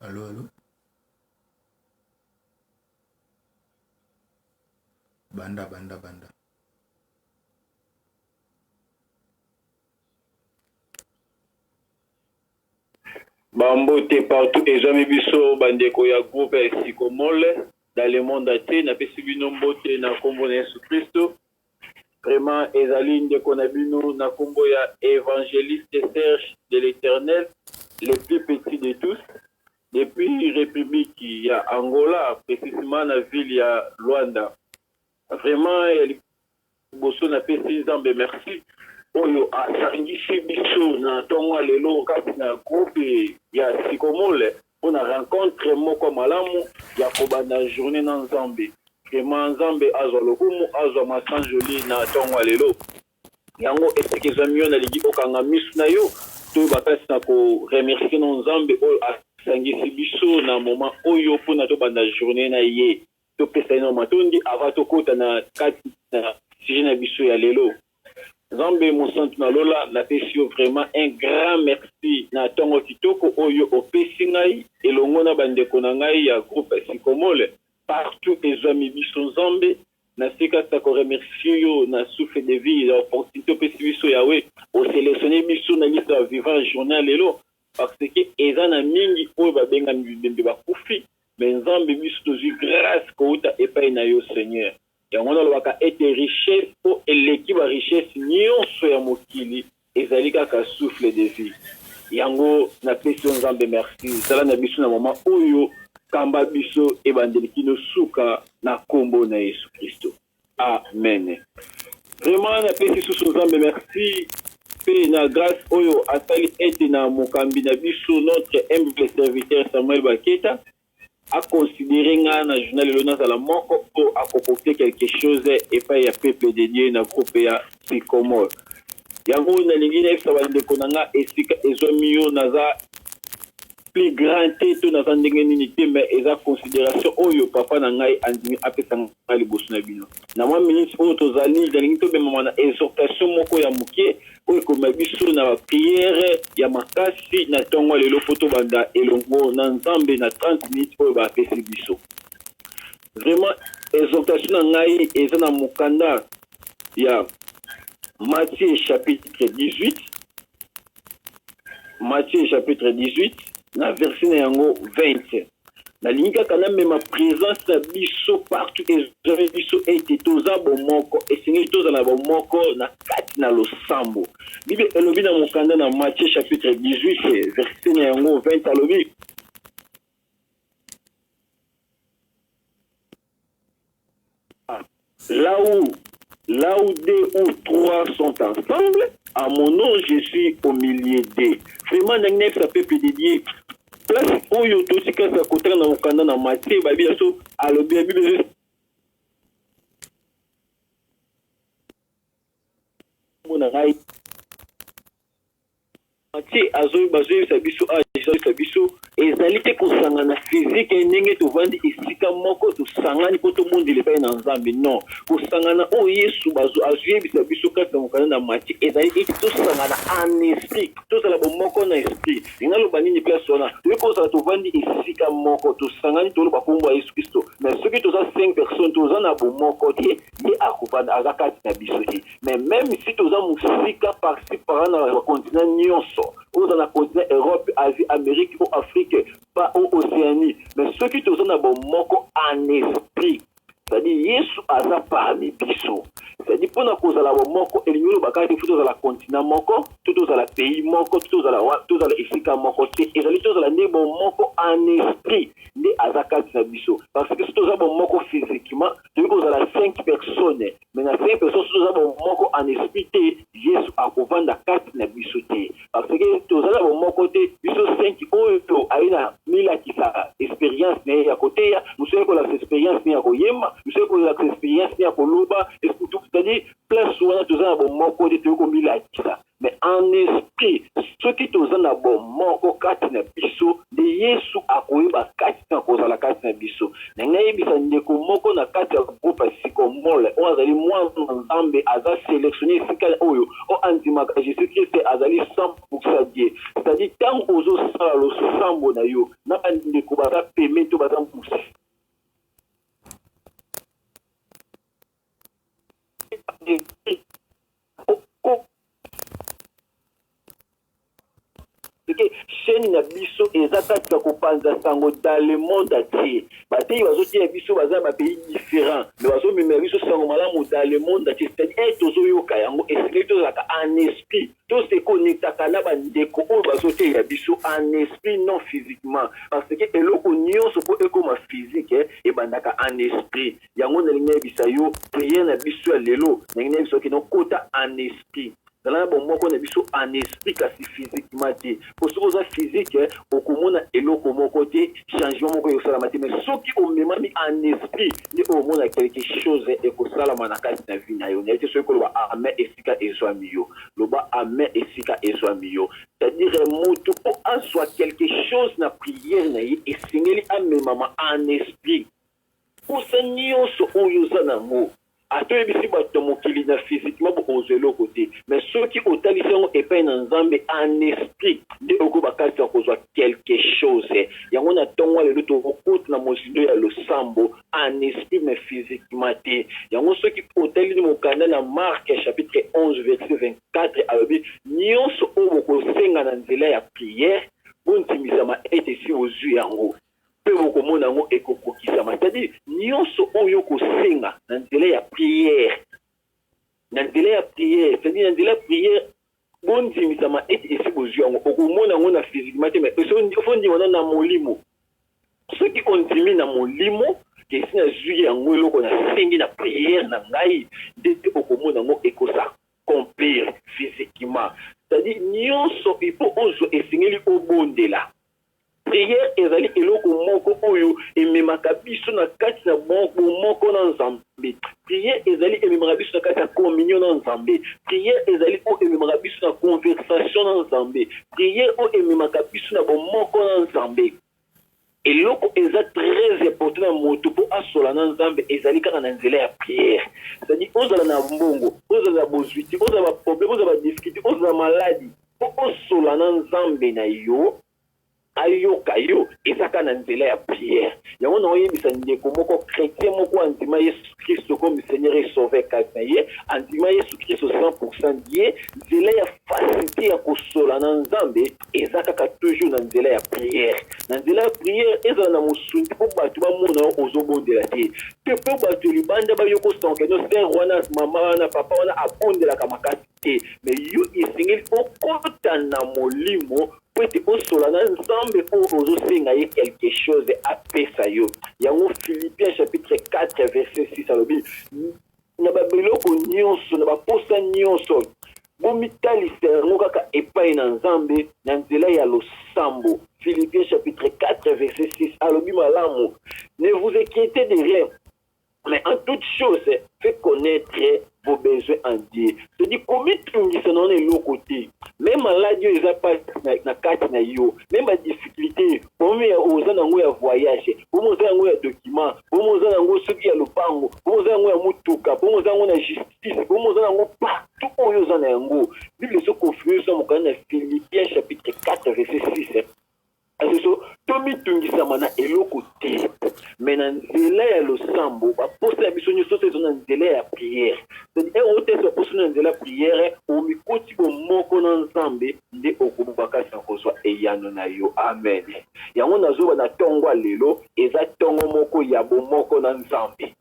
Allo allo banda banda banda bambote partout ezwami biso bandeko ya groupe ya sikomole dans le monde entier napesi bino mbote na nkombo na yesu kristo Vraiment ezali ndeko na bino na kombo ya Evangeliste Serge de l'Eternel le plus petit de tous depuis Republique ya Angola precisement na ville ya Luanda. Vraiment ya liboso na pesi Nzambe merci oyo asangisi biso na tongo ya lelo kati na groupe ya Sikomole. Pona rencontre moko malamu ya kobanda journee na nzambe vraiment nzambe azwa lokumu azwa ma sans jolie na tongo ya lelo yango esika ezwami yo nalingi okanga misu na yo toyeba kati na ko remercie no nzambe oyo asangisi biso na moment oyo pona tobanda journee na ye Topesa ye na matondi avant tokota na kati na sujet na biso ya lelo. Nzambe mosantu na lola, napesi yo vraiment un grand merci na tongo kitoko oyo opesi ngai elongo na ba ndeko na ngai ya groupe Sycomole partout ezuami biso Nzambe. Nasili kaka ko remercier yo na souffle de vie ya opportunite opesi biso Yahweh. O selectionner biso na liste ya ba vivants ya journee ya lelo. Par ce que eza na mingi oyo ba bengami bibembe ba kufi mais nzambe biso tozui grace kowuta epayi na yo seigneur yango wana olobaka ete richesse po eleki ba richesse nionso ya mokili ezali kaka souffle de vie yango na pesi yo nzambe merci zala na biso na moment oyo kamba biso ebandeli kino suka na kombo na yesu christo. Amen vraiment na pesi susu nzambe merci pe na grace oyo asali ete na mokambi na biso notre humble serviteur Samuel Baketa a considere nga na journal lelo nazala moko po akopokte quelque chose epai ya peuple de Dieu na groupe ya Sycomore yango nalingi nayebisa bandeko na nga esika ezwami yo naza plus grand te to naza ndenge nini te mais eza consideration oyo papa na ngai andimi apesa ngai liboso na bino na mwa minute oyo tozali nalingi tobemama na exhortation moko ya moke oyo ekomema biso na bapriere ya makasi na ntongo ya lelo mpo tobanda elongo na nzambe na 30 minute oyo bapesi biso vraiment exhortation na ngai eza na mokanda ya matie chapitre 18 Matthieu chapitre 18 na verset na yango 20 nalingi kaka namema presence na biso partout ezali biso ete toza bomoko esengeli tozala bomoko na kati na losambo bible elobi na mokanda na matthieu chapitre 18 verset na yango 20 alobi Là où, là où deux ou trois sont ensemble, à mon nom, je suis au milieu d'eux. Vraiment, na ngai ça peut pédidier. Place oyo totika sa kotana na okanda na matie babi ya so alobi ya bibi mona ngai Mathieu azo bazoyebisa biso age azoyebisa biso ezali te kosangana physique ye ndenge tovandi esika moko tosangani mpo tobondela epai na nzambe non kosangana oyo yesu azoyebisa biso kati na mokanda na Mathieu ezali ete tosangana en esprit tozala bomoko na esprit linga loba nini place wana toyei kozala tovandi esika moko tosangani toloba nkombo ya yesu kristo mais soki toza 5 personnes toza na bomoko te nde akofanda aza kati na biso te mais meme si toza mosika parci para na bacontinent nyonso oza na continent europe asie amérique o afrique pa o océanie mais soki toza na bomoko en esprit cetadi yesu aza parmi biso cetadi mpona kozala bomoko elingi oloba kaka te fo tozala continent moko to tozala pays moko to tozala tozala esika moko te ezali tozala nde bomoko en esprit nde aza kati na biso parce que si toza bomoko physiquement tokoki kozala 5 personnes mais na 5 personnes soki toza bomoko en esprit te yesu akovanda kati na biso te parce que toza na bomoko te biso 5 oyo to aye na milakisa experience na ye ya koteya mosusu aye kolakisa experience ne ya koyemba mosusu aye kolakisa experience ne ya koloba c'est-à-dire place wana toza na bomoko te toyei komilakisa mais en esprit soki toza na bomoko kati na biso nde yesu akoyeba kati na kozala kati na biso na ngai yebisa ndeko moko na kati ya groupe ya sikomole oyo azali mwana nzambe aza selectionne esika oyo oyo andimaka jesus christ azali 100 die cetadi ntango ozosala losambo na yo na bandeko baza peme to baza mosisi que chaîne na biso eza kati ya kopanza sango dans le monde entier bateyi bazoteya biso baza na bapays différent me bazomemela biso sango malamu dans le monde entier c'est-à-dire eh, tozoyoka yango esengeli tozalaka en esprit tose konektaka na bandeko oyo bazoteya biso en esprit non physiquement parce que eloko nyonso mpo ekoma physique eh, ebandaka en esprit yango nalingi nayebisa yo priere na biso ya lelo nalingi nayebisa yo kino kota en esprit zala na bomoko na biso en esprit kasi physiquement te mpo soki oza physique eh, okomona eloko moko te changement moko ekosalama te mais soki omemami en esprit nde omona quelque chose eh, ekosalama na kati na vie na yo naye te soki koloba amen esika ezwami yo loba amen esika ezwami yo c'est-à-dire eh, motu mpo azwa quelque chose na priere na ye esengeli amemama en esprit Posa nionso oyo oza na ngo ata oyebisi batu na mokili na physiquement bo kozwa eloko te mais soki otalisi yango epai na Nzambe en esprit nde oko ba kati ya kozwa quelque chose yango na tongo ya lelo toko kota na mozindo ya losambo en esprit mais physiquement te yango soki otali mokanda na Marc chapitre 11 verset 24 alobi nionso oyo boko senga na nzela ya prière bo ndimisama ete esi bozui yango. Mpe bokomona yango ekokokisama, c'est-à-dire nyonso oyo okosenga na nzela ya prière, na nzela ya prière, c'est-à-dire na nzela ya prière bondimisama ete esi bozwi yango. Okomona yango na physiquement te, mais faut ndima na molimo. Soki ondimi na molimo ke esi nazwi yango eloko nasengi na prière na ngai, nde te okomona yango ekosa complir physiquement. C'est-à-dire nyonso il faut ozwa esengeli obondela. Prière ezali eloko moko oyo ememaka biso na kati na bomoko na Nzambe. Prière ezali ememaka biso na kati ya communion na Nzambe. Prière ezali oyo ememaka biso na conversation na Nzambe. Prière oyo ememaka biso na bomoko na Nzambe. Eloko eza très important na moto po asola na Nzambe ezali kaka na nzela ya prière. C'est-à-dire ozala na mbongo, ozala na bozui te, ozala ba problème, ozala ba difficultes, ozala maladi, Bosola na nzambe na yo ayoka yo eza ka na nzela ya prière yango na oyebisa ndeko moko chrétien moko andima yesu kristo comme seigneur et sauveur kati na ye andima yesu kristo 100% die nzela ya facilité ya kosola na nzambe eza kaka toujours na nzela ya prière na nzela ya prière ezala na mosungi mpo bato bamona yo ozobondela te te mpo bato libanda bayokosanke no sere wana mama wana papa wana abondelaka makasi te me yo esengeli okota na molimo mpo ete osola na nzambe oyo ozosenga ye quelque chose apesa yo yango philippien chapitre 4 verset 6 alobi na babiloko nyonso na baposa nyonso bomitalisa yango kaka epai na nzambe na nzela ya losambo philippien chapitre 4 verset 6 alobi malamu ne vous inquiétez de rien Mais en toute chose, fait connaître vos besoins en Dieu. C'est-à-dire, komitungisa na wana eloko te. Même maladi oyo eza pasi na, na kati na yo, même ba difficulté, problème ya oza na yango ya voyage, problème oza na yango ya document, problème oza na yango soki ya lopango, problème oza na yango ya mutuka, problème oza na yango na justice, problème oza na yango partout oyo oza na yango. Bible ezo confirmer biso na mokanda na Philippiens chapitre 4 verset 6. Lisusu, tomitungisama na eloko te, mais na nzela ya losambo, ba posa ya biso nioso ezwa na nzela ya prière. C'est-à-dire, heure oyo tasi ba posi na nzela ya prière, omikoti bo moko na Nzambe, nde oko makasi na kozwa eyano na yo. Amen! Yango nazo loba na tongo ya lelo, eza tongo moko ya bo moko na Nzambe.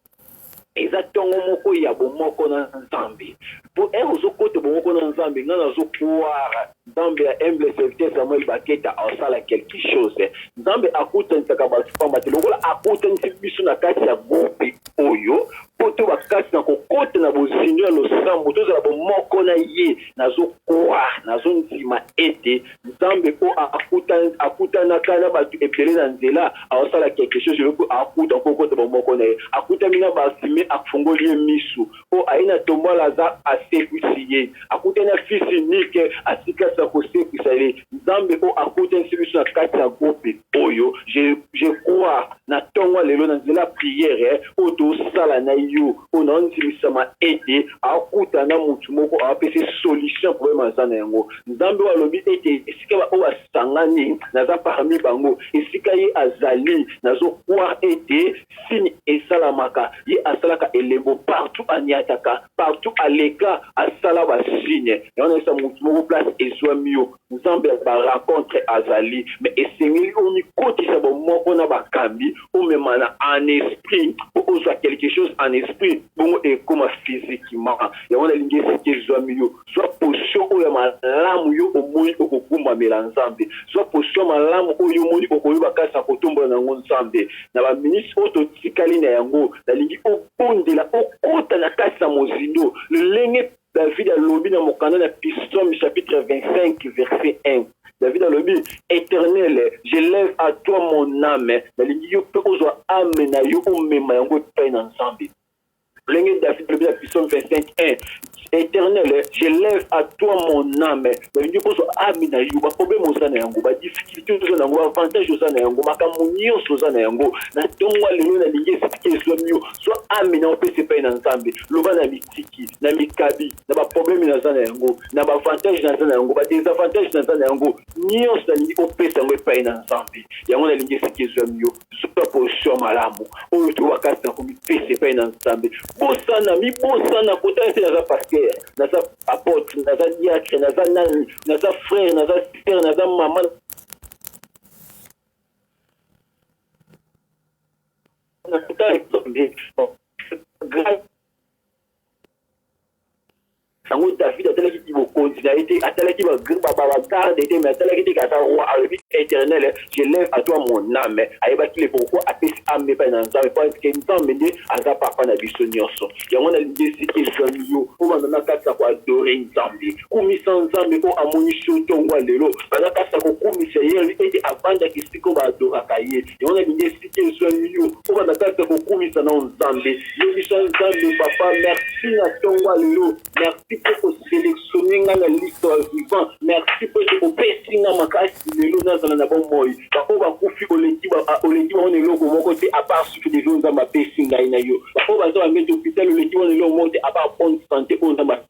eza ntongo moko ya bomoko na nzambe po heure ozokota bomoko na nzambe nga nazo croire nzambe ya humble serviteur samuel baketa asala quelque chose nzambe akutanisaka bato pamba te lokola akutanisi biso na kati ya groupe oyo po to bakati na kokota na bozindo ya losambo tozala bomoko na ye nazo croire nazo ndima ete Nzambe po a kuta akutana ka na batu ebele na nzela azo sala quelque chose yo pe a kuta ko kota bo moko na ye a kutani na ba fumee a fungoli ye misu po aye na tombwala aza a sekwisi ye a kutani na fils unique a sikasa ko sekwisa ye Nzambe o a kutanisi biso na kati ya groupe oyo je, je crois na ntongo ya lelo na nzela ya priere eh, oyo tosala na yo oyo naondimisama ete akuta na motu moko apesi solution ya probleme aza na yango nzambe oyo alobi ete esika baoyo asangani naza parmi bango esika ye azali nazokroire ete sini esalamaka ye asalaka elembo partout aniataka partout aleka asala basine yango nayesa motu moko place ezwami yo Nzambe ya ba rencontres azali mais esengeli omikotisa bo moko na bakambi omemana en esprit po ozwa quelque chose en esprit bongo ekoma physiquement yango nalingi esika ezwami yo zwa position oyo ya malamu yo omoni okokumbamela Nzambe zwa position malamu oyo omoni okoyeba kati na kotombola na yango Nzambe na ba minutes oyo totikali na yango nalingi obondela okota na kati na mozindo lolenge David alobi na mokanda na Psaume chapitre 25 verset 1. David alobi, Eternel, je lève à toi mon âme. Nalingi yo mpe ozwa âme na yo omema yango epai na Nzambe. Lenge David alobi na Psaume 25 1. Eternel, je lève à toi mon âme. Nalingi yo ozwa âme na yo, baproblème oza na yango, badifficulté oza na yango, avantage oza na yango, makambo nyonso oza na yango. Na ntongo lelo nalingi esika ezwami yo, zwa âme na yo opesa epai na Nzambe. Loba na politiki, na mikabi, na ba probleme naza na yango, na ba avantage naza na yango, ba desavantage naza na yango, nionso nalingi opesa yango epayi na Nzambe. Yango nalingi esika ezuami yo, zwa position ya malamu oyo tokoka kasi na komipesa epayi na Nzambe. Bosana, mibosana kotala te naza pasteur, naza apotre, naza diacre, naza nani, naza frère, naza sœur, naza mama, na kotala Nzambe. Grâce yango david atalaki ti bokonzi na ye te atalaki bagarde te mais atalaki te kaza roi alobi éternel je lève à toi mon âme ayebaki le pourquoi apesi ame epai na nzambe po ayebike nzambe nde aza papa na biso nyonso yango nalingi esika ezwami yo obanda na kati ya koadore nzambe kumisa nzambe oyo amonisi yo ntongo ya lelo baza kati ya kokumisa ye alobi ete abandaki esika oyo baadoraka ye Yango nalingi esika ezwami yo obanda kati ya kokumisa na Nzambe. Yebisa Nzambe, Papa, merci na ntongo ya lelo. Merci mpo koselektione ngai na liste ya vivant. Merci mpo ete opesi ngai makasi lelo nazala na bomoi. Baoyo bakufi oleki bango na eloko moko te apart souffle de vie oyo Nzambe apesi ngai na yo. Baoyo baza bambeti hopital oleki bango na eloko moko te apart bonne sante oyo Nzambe apesi.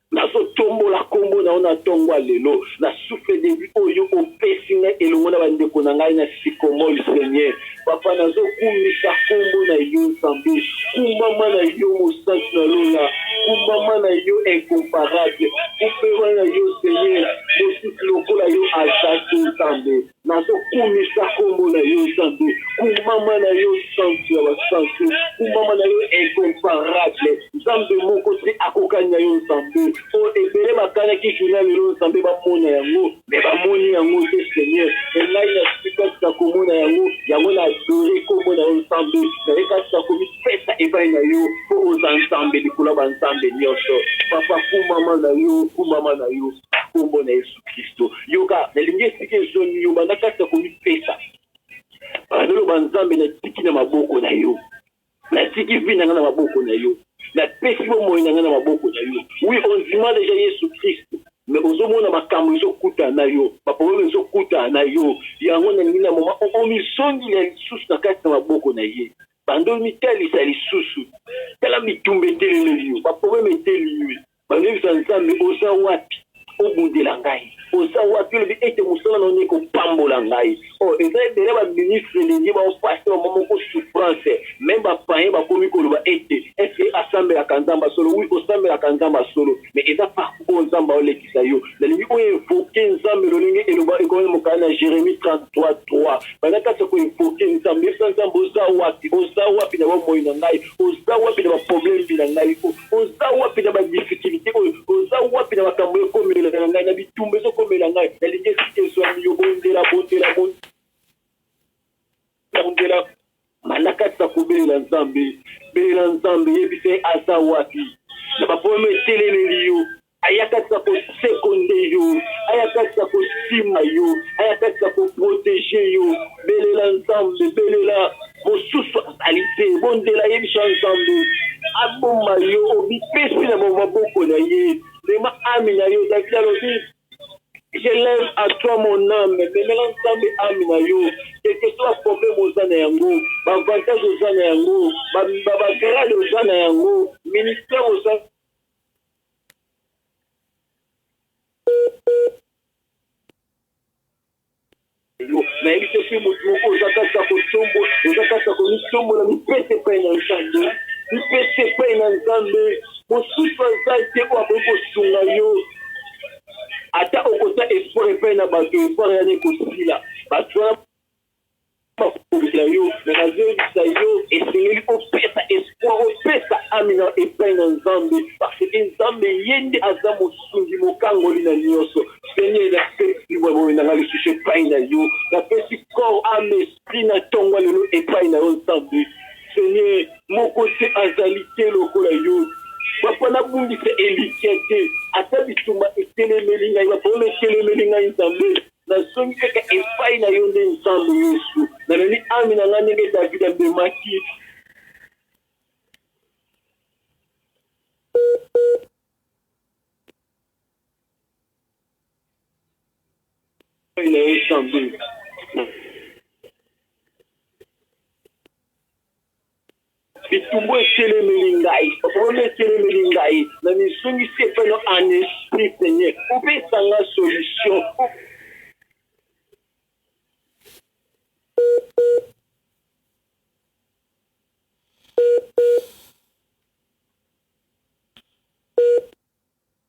Nazo tombola kombo na yo na ntongo ya lelo, na souffle de vie oyo o pesi ngai elongo na ba ndeko na ngai na Sycomol Seigneur papa nazo kumisa kombo na yo Nzambe kumbama na yo mosantu na lola kumbama na yo incomparable kumbema na yo Seigneur mosusu lokola yo aza te Nzambe. Nazo kumisa kombo na yo Nzambe, kumama na yo santu ya ba santu, kumama na yo incomparable, Nzambe moko te akokani na yo Nzambe, po ebele ba kanaki journee ya lelo Nzambe ba mona yango mais ba moni yango te Seigneur, mais ngai na suis kati na ko mona yango, yango na adore kombo na yo Nzambe, naye kati na komi pesa epayi na yo po oza Nzambe likolo ya ba Nzambe nionso, papa kumama na yo, kumama na yo. nkombo na yesu kristo yoka nalingi esika ezongi yo banda kati ya komipesa azoloba nzambe natiki na maboko na yo natiki vi na ngai na maboko na yo napesi bomoi na ngai na maboko na yo wi ondima deja yesu kristo me ozomona makambo ezokuta na yo baprobleme ezokuta na yo yango nalingi na moma omizongila lisusu na kati na maboko na ye bando mitalisa lisusu tala bitumba eteleleli yo baprobleme eteli yo Bandimisa Nzambe, oza wapi? Obundela ngai, oza wapi? Olobi ete mosala na yo ekopambola ngai. O, oh, eza ebele ba ministre elingi bango pasi bango moko souffrance. Meme ba payen bakomi koloba ete eske asambelaka Nzambe ya solo? Oui, osambelaka Nzambe ya solo, mais eza parcours oyo Nzambe aolekisa yo. Nalingi o evoke Nzambe lolenge eloba ekomami mokanda na Jeremie 33 3 banda kati ya ko evoke Nzambe. Yebisa Nzambe oza wapi, oza wapi na bomoi na ngai, oza wapi na ba problème na ngai. Oza wapi na ba difficultes oyo? Oza wapi na makambo ekomelaka ngai, na bitumba ezokomela ngai? Nalingi esika ezwami yo, bondela, bondela, bondela. Malaka tika kobelela Nzambe, belela Nzambe, yebisa ye aza wapi na ba problème etelemeli yo. ayakaka kosekonde yo ayakaka kosima yo ayakaka koprotege yo belela nzambe belela mosusu azali te bondela ye biso nzambe aboma yo obipesi na maboko na ye mema ami na yo david alobi je lève à toi mon âme memela nzambe ami na yo quelque soit problème oza na yango baavantage oza na yango bagrade oza na yango ministère oza nayebi te soki motu moko oza kati ya kotombo oza kati ya komitombola mipese epai na nzambe mipese epai na nzambe mosusu aza te oyo akoki kosunga yo ata okota espoir epai na bato espoir yana ekosila bato wana bakobundela yo mais nazoyebisa yo esengeli opesa espoir opesa ame na epai na nzambe parce que nzambe ye nde aza mosungi mokangoli na nioso seigneur napesi bomoi na nga lisusu epai na yo napesi corps ame esprit na tongo lelo epai na yo nzambe seigneur moko te azali te lokola yo papa nabungisa elikya te ata bitumba etelemeli ngai babola etelemeli ngai nzambe Nazongi kaka epayi na yo nde Nzambe Yesu. Namemi ame na ngai ndenge David amemaki. Epayi na yo Nzambe. Bitumbu etelemeli ngai, problème etelemeli ngai, na mizongisi epai no en esprit Seigneur, opesa nga solution.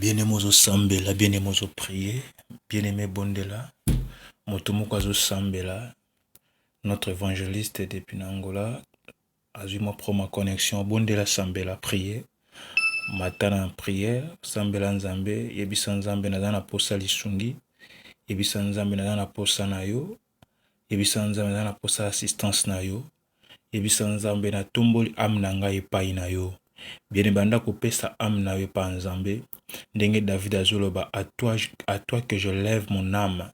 Bien aime ozo sambela bien aime ozo prie bien aime bondela moto moko azo sambela notre evangeliste depuis na Angola azui mua problème ya connexion bondela sambela prie mata na prière sambela Nzambe yebisa Nzambe naza na posa ya lisungi yebisa Nzambe naza na posa na yo yebisa Nzambe naza na posa ya assistance na yo. Yebisa Nzambe, Natomboli ame na ngai epai na yo. Bien-aime, banda kopesa ame na yo epai Nzambe. Ndenge David azoloba, à toi, à toi que je lève mon âme.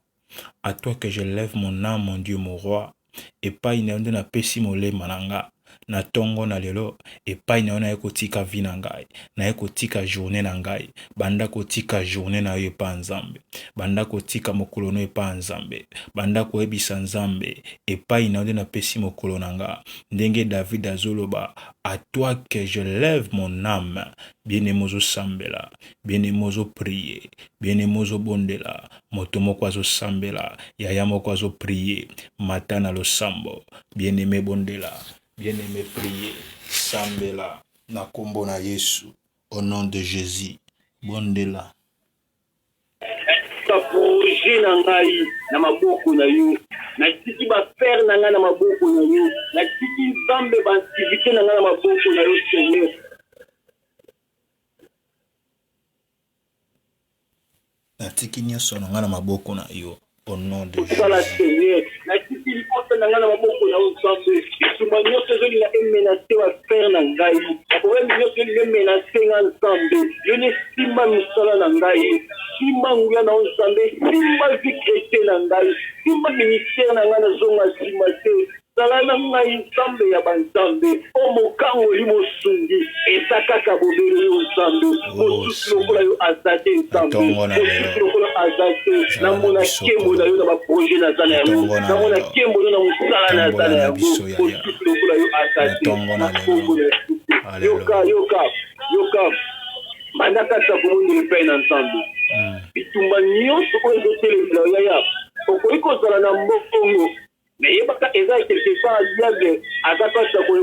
À toi que je lève mon âme, mon Dieu, mon roi. Epai na yo nde napesi molema na nga. Na tongo na lelo, epai na yo naye kotika vie na ngai. Naye kotika journée na ngai. Banda kotika journée na yo epai Nzambe. banda kotika mokolo no epa Nzambe, banda koyebisa Nzambe epai na yo nde napesi mokolo na nga. Ndenge David azoloba à toi que je lève mon âme. Bien aimé ozosambela, bien aimé ozopriye, bien aimé ozobondela, moto moko azosambela, yaya moko azopriye, mata na losambo. Bien aimé bondela, bien aimé priye, sambela na kombo na Yesu, au nom de Jésus, bondela. Natiki ba projets na ngai na maboko na yo, natiki ba affaires na ngai na maboko na yo, natiki Nzambe ba activites na ngai na maboko na yo Seigneur. Natiki nionso na ngai na maboko na yo. au nom de Jésus. Osala Seigneur, natiki libota na ngai na maboko na yo Nzambe, bitumba nyonso ezolinga e menacer ba frères na ngai, ba problèmes nyonso ezolinga e menacer nga Nzambe, yo nde simba misala na ngai, simba nguya na yo Nzambe, simba vie chretienne na ngai, simba ministère na ngai nazonga sima te, Zala na ngai Nzambe ya banzambe o mokangoli mosungi eza kaka bobele yo Nzambe mosusu lokola yo aza te Nzambe mosusu lokola aza te namona nkembo na yo na ba projet naza na yango namona nkembo no na mosala naza na yango mosusu lokola yo aza te na nkombo na Yesu Kristo yoka yoka yoka banda kati ya kobondela epai na Nzambe bitumba nyonso oyo ezotelemela yo yaya okoki kozala na mbongo Mais yebaka eza quelque part diable aza kati ya ko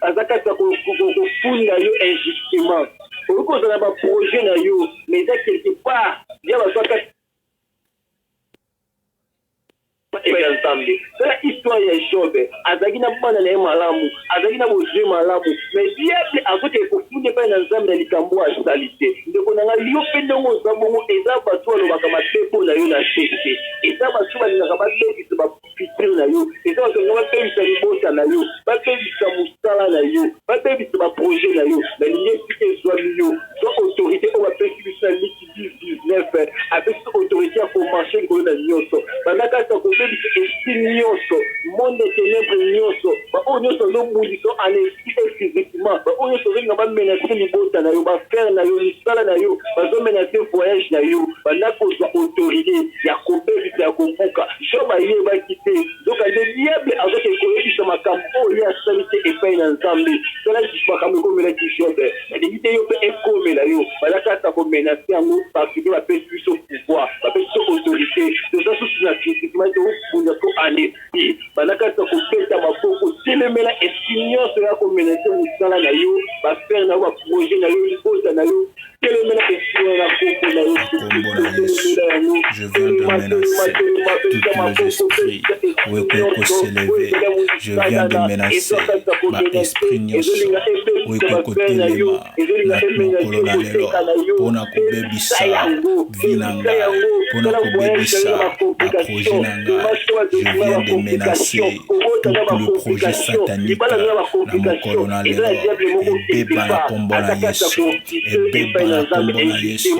aza kati ya ko kofunda yo injustement. Okoki kozala na ba projets na yo mais eza quelque part diable aza kati ya Nzambe. Tala histoire ya Job, azalaki na bana na ye malamu. azalaki na bozui malamu mais diable azoki ekofunda epai na nzambe na likambo oyo asali te ndeko na ngai yo mpe ndenge oza bongo eza bato oyo alobaka mabe mpo na yo na se te eza bato balingaka babebisa bafitire na yo eza bato balinga babebisa libota na yo babebisa mosala na yo babebisa baprojet na yo nalingi esika ezwami yo zwa autorité oyo bapesi biso na liki 19 apesi autorité ya komarche likolo na nyonso banda kati ya kobebisa esprit nyonso monde de ténèbre nyonso baoyo nyonso bazobundisa en esprit et physiquement baoyo nyonso ozolinga bamenase libota na yo bafrere na yo misala na yo bazomenase voyage na yo banda kozwa autorité ya kobebisa ya kobuka job ayebaki te nzoka nde diable azoke koyebisa makambo oyo ye asali te epai na nzambe tala makambo ekomelaki jobe Nalingi te yo pe ekomela yo. Baza kaka ko menacer yango parce que ba pesi biso pouvoir, ba pesi biso autorite. Toza susu na critiquement to bunda ko en esprit. Baza kaka ko beta maboko. Telemela esprit nionso eya ko menacer musala na yo, ba affaires na yo, ba projets na yo, libota na yo. Telemela esprit wana kombo na Yesu Christo. Telemela yango. viens de menacer toutes nos esprits oekoko s'élever je viens de menacer ba esprit nyonso oekoko kotelema na mokolo na lelo mpo na kobebisa vi na ngai mpo na kobebisa baprojet na ngai je viens de menacer tout le projet satanique na mokolo na lelo ebeba na nkombo na yesu ebeba na nkombo na yesu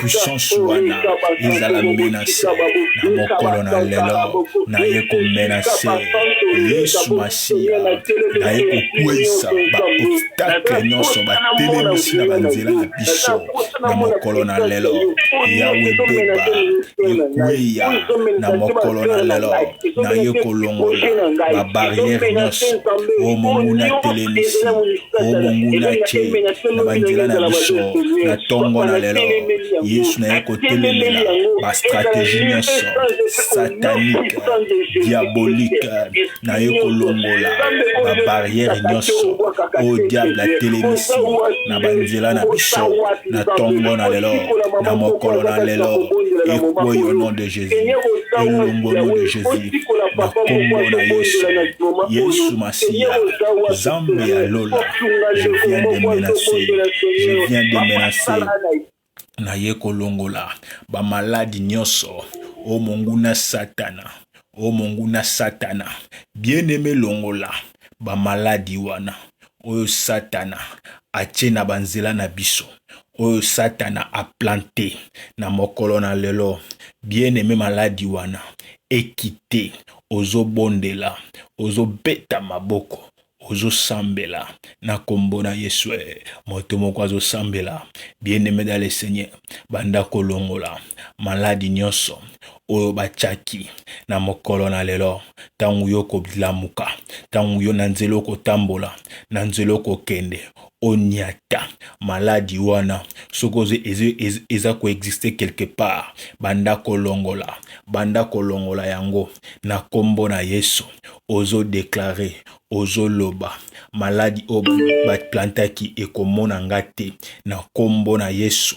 puissance wana ezala menase na mokolo na lelo naye komenase yesu masiya naye kokweisa baobstakle nyonso batelemisi na banzela na biso na mokolo na lelo yawe beba ekweya na mokolo na lelo naye kolongola babarriere nyonso oyo monguna atelemisi oyo monguna atye na banzela na biso na ntongo na lelo yesu naye kotelemela bastrategie nyonso satanike diabolike naye kolongola babarriere nyonso oyo diable atelemisi na banzela na biso na ntongo na lelo na mokolo na lelo ekweyi au nom de jesus ezali elongo no de jesus na kombo na yesu yesu masiya zambe ya lola je viens de menacer je viens de menacer naye kolongola bamaladi nyonso o monguna satana o monguna satana bien aime longola bamaladi wana oyo satana atie na banzela na biso oyo Satana a planter na mokolo na lelo, bien aime maladi wana e quitter, ozo bondela, ozo beta maboko, ozo sambela na kombo na Yesu eh. Moto moko azo sambela, bien aime dans le Seigneur, banda kolongola maladi nyonso oyo batiaki na mokolo na lelo, ntango yo okolamuka, ntango yo na nzela okotambola, na nzela okokende, oniata maladi wana soki ozo ezo eza ko existe quelque part banda kolongola banda kolongola yango na kombo na yesu ozo declare ozo loba maladi oyo ba plantaki ekomona nga te na kombo na yesu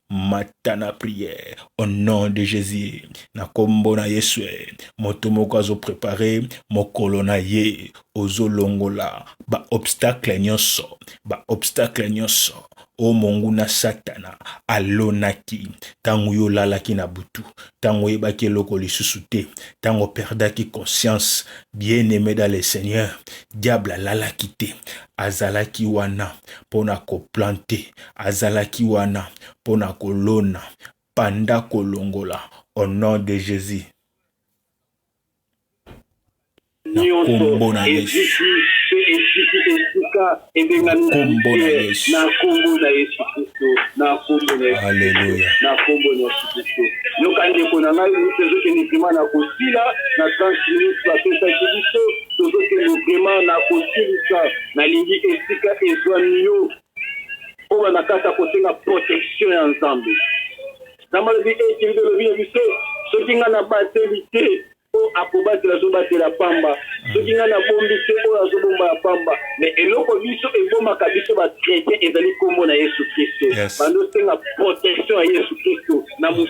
mata na prière au nom de Jésus na kombo na Yesu moto moko azo préparer mokolo na ye ozo longola ba obstacle nyonso ba obstacle nyonso o monguna satana alonaki tango yo olalaki na butu tango oyebaki eloko lisusu te tango perdaki conscience bien aimé dans le Seigneur diable alalaki te azalaki wana pona ko planter azalaki wana mpo na kolona banda kolongola au nom de Jesus na kombo na Yesu kombo na Yesu na kombo na Yesu Kristo na kombo na Yesu Haleluya na kombo na Yesu Kristo yoka ndeko na ngai mpe ezokende vrema na kosila na 30 minutes bapesaki biso tozokende vrema na kosilisa nalingi esika ezwami yo Kobanda kaka kosenga protection ya Nzambe. Nzambe alobi ete eh, Biblia elobi na biso soki ngai nabateli te oyo akobatela azobatela pamba, soki ngai nabombi te oyo azobomba ya pamba. Me eloko biso ebomaka biso bakretien ezali nkombo na Yesu Kristo. Yes. Bando osenga protection ya Yesu Kristo na mos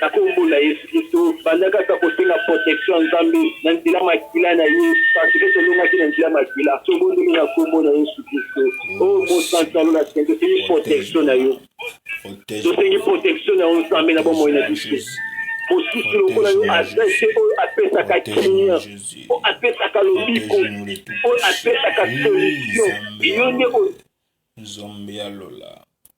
Na kombo na yesu klisto bandaka sa kosenga protection ya nzambe na nzela makila na ye parce que tolongaki na nzela makila tobondeli na kombo na yesu klisto oh mosantu ya lola saint tosengi protection na yo tosengi protection na yo nzambe na bomoi na biso mosusu lokola yo aza te oyo apesaka kimia oyo apesaka lobiko oyo apesaka solution yo nde nzambe ya lola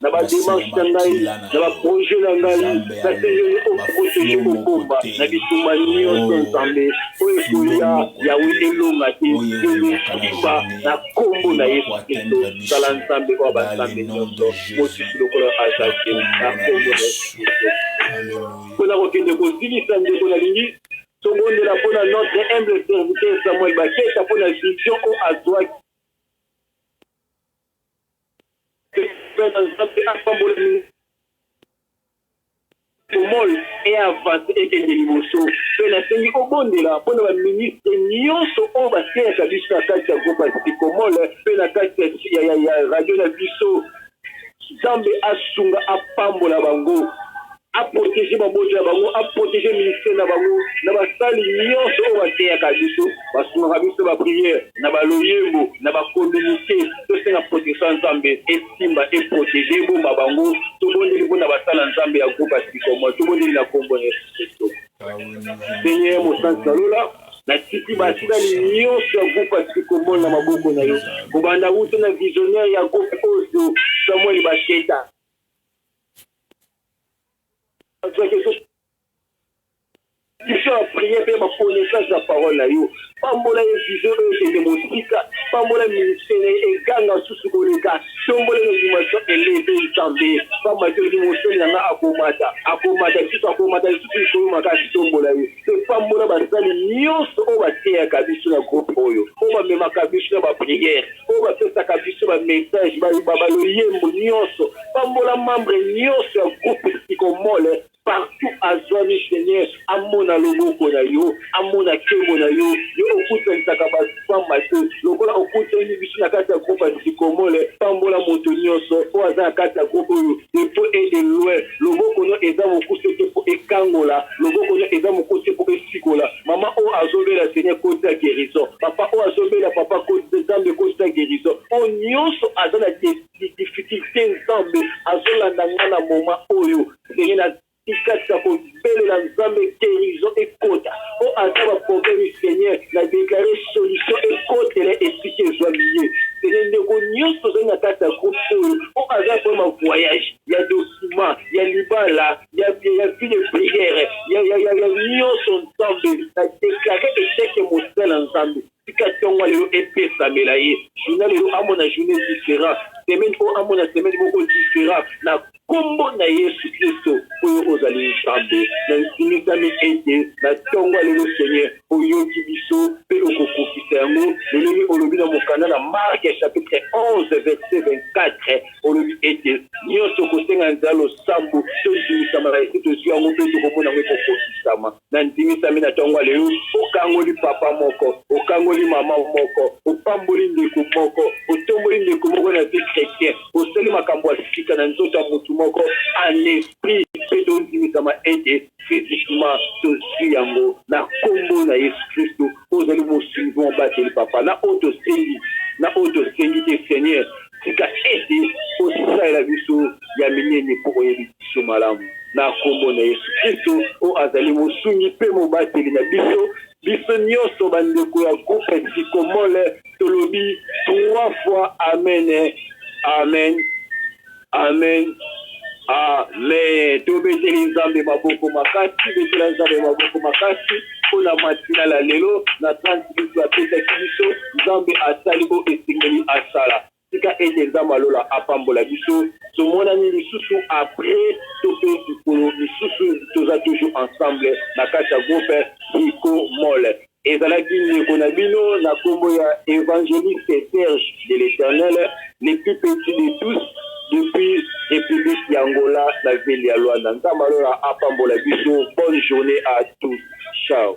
na bademarche na ngai na baproje na ngai naseneli okokosoki kokomba na bitumba nyonso nzambe oyo ekoya yawe elonga te elosimba na nkombo na yesu kristo zala nzambe oyo banzambe nyonso mosusu lokola azali te na nkombo na yesu kristo mpo na kokende kozilisa ndeko nalingi tobondela mpo na notre humble serviteur samuel bakesa mpo na vision oyo azwaki Bana nzambe apambola bino mall e avance ekende liboso pe nasengi obondela mpo na baministre nyonso oyo bateyaka biso na kati ya groupe ya sikomol pe na kati ya radio na biso nzambe asunga apambola bango A proteger mabota na bango, a proteger ministère na bango, na basali nionso oyo bateyaka biso, basungaka biso na ba prières, na ba loyembo, na ba communiques. Tosenga protection ya Nzambe esimba, e proteger, ebomba bango. Tobondeli mpo na basala Nzambe ya groupe ya Sycomore. Tobondeli na kombo ya Yesu Klisto. Seigneur Mosantu na Lola, natiki basali nionso ya groupe ya Sycomore na maboko na Yo, kobanda wuta na visionnaire ya groupe oyo, Samuel Basheta, Mission ya prière mpe ba connaissance ya parole na yo pambola ye vision oyo ekende mosika pambola ministère na ye eganga susu koleka tombola na dimension eleve nzambe pamba te olobi mosali na nga akomata akomata lisusu akomata lisusu likolo makasi tombola ye Mpe pambola basali nyonso oyo bateyaka biso na groupe oyo, oyo bamemaka biso na ba prières, oyo bapesaka biso ba messages, ba ba ba loyembo nyonso. Pambola membre nyonso ya groupe Psychomole partout azuami, Seigneur amona loboko na yo, amona kembo na yo, yo okutanisaka batu pamba te, lokola okutani biso na kati ya groupe ya Psychomole. Pambola moto nyonso oyo aza na kati ya groupe oyo de près et de loin. Loboko no eza mokuse te po ekangola loboko no eza mokuse te po esikola maman oyo azo bela seigneur kotisa guerison papa oyo azo bela papa kotisa zambe kotisa guerison po nioso aza na difficulte zambe azo landa nga na moment oyo seigneur na tikatisa ko belela zambe guerison ekota po aza ba probleme seigneur na declare solution ekotela esika ezua liye seigneur ndeko nioso tozali na kati ya groupe oyo po aza na probleme ya voyage ya document ya libala ya ya vie de prière ya ya ya ya nyonso nzambe na deklare echeke mosala na nzambe tika ntongo lelo epesamela ye journa lelo amona journe différent semaine oyo amona semaine moko différent na nkombo na yesu kristo oyo ozali nzambe na nsimisami ete na ntongo lelo seigneur oyoki biso mpe okokokisa yango lolenge olobi na mokanda na marke chapitre 11 verset 24 olobi ete, Nyonso ekosenga nzela losambo to ndingisama na esi tozwi yango mpe tokomona yango ekokokisama. Nandimisami na ntongo ya lelo, okangoli papa moko, okangoli mama moko, opamboli ndeko moko, otomboli ndeko moko na vie chretien, osali makambo ya sika na nzoto ya moto moko en esprit, mpe tondimisama ete physiquement tozwi yango na Nkombo na Yesu Klisto. Ozali Mosungi mpe Mobateli, Papa, na oyo tosengi, na oyo tosengi te, Seigneur, Tika ete Osalela biso ya minene mpo Oyebi biso malamu. Na Nkombo na Yesu Klisto, oyo azali Mosungi mpe Mobateli na biso, biso nyonso bandeko ya groupe Sycomole tolobi trois fois amen, amen, amen. Amen tobeteli nzambe maboko makasi betela nzambe maboko makasi mpona matina la lelo na 30 minutes apesaki biso nzambe asali oyo esengeli asala tika ete nzambe ya lola apambola biso tomonani lisusu apres to mpe mikolo misusu toza toujours ensemble na kati ya groupe hiko mole Ezalaki ndeko na bino na kombo ya Evangeliste Serge de l'Eternel, le plus petit de tous, depuis Republique y'Angola na ville ya Luanda. Nzambe ya lola apambola biso. Bonne journee à tous. Ciao.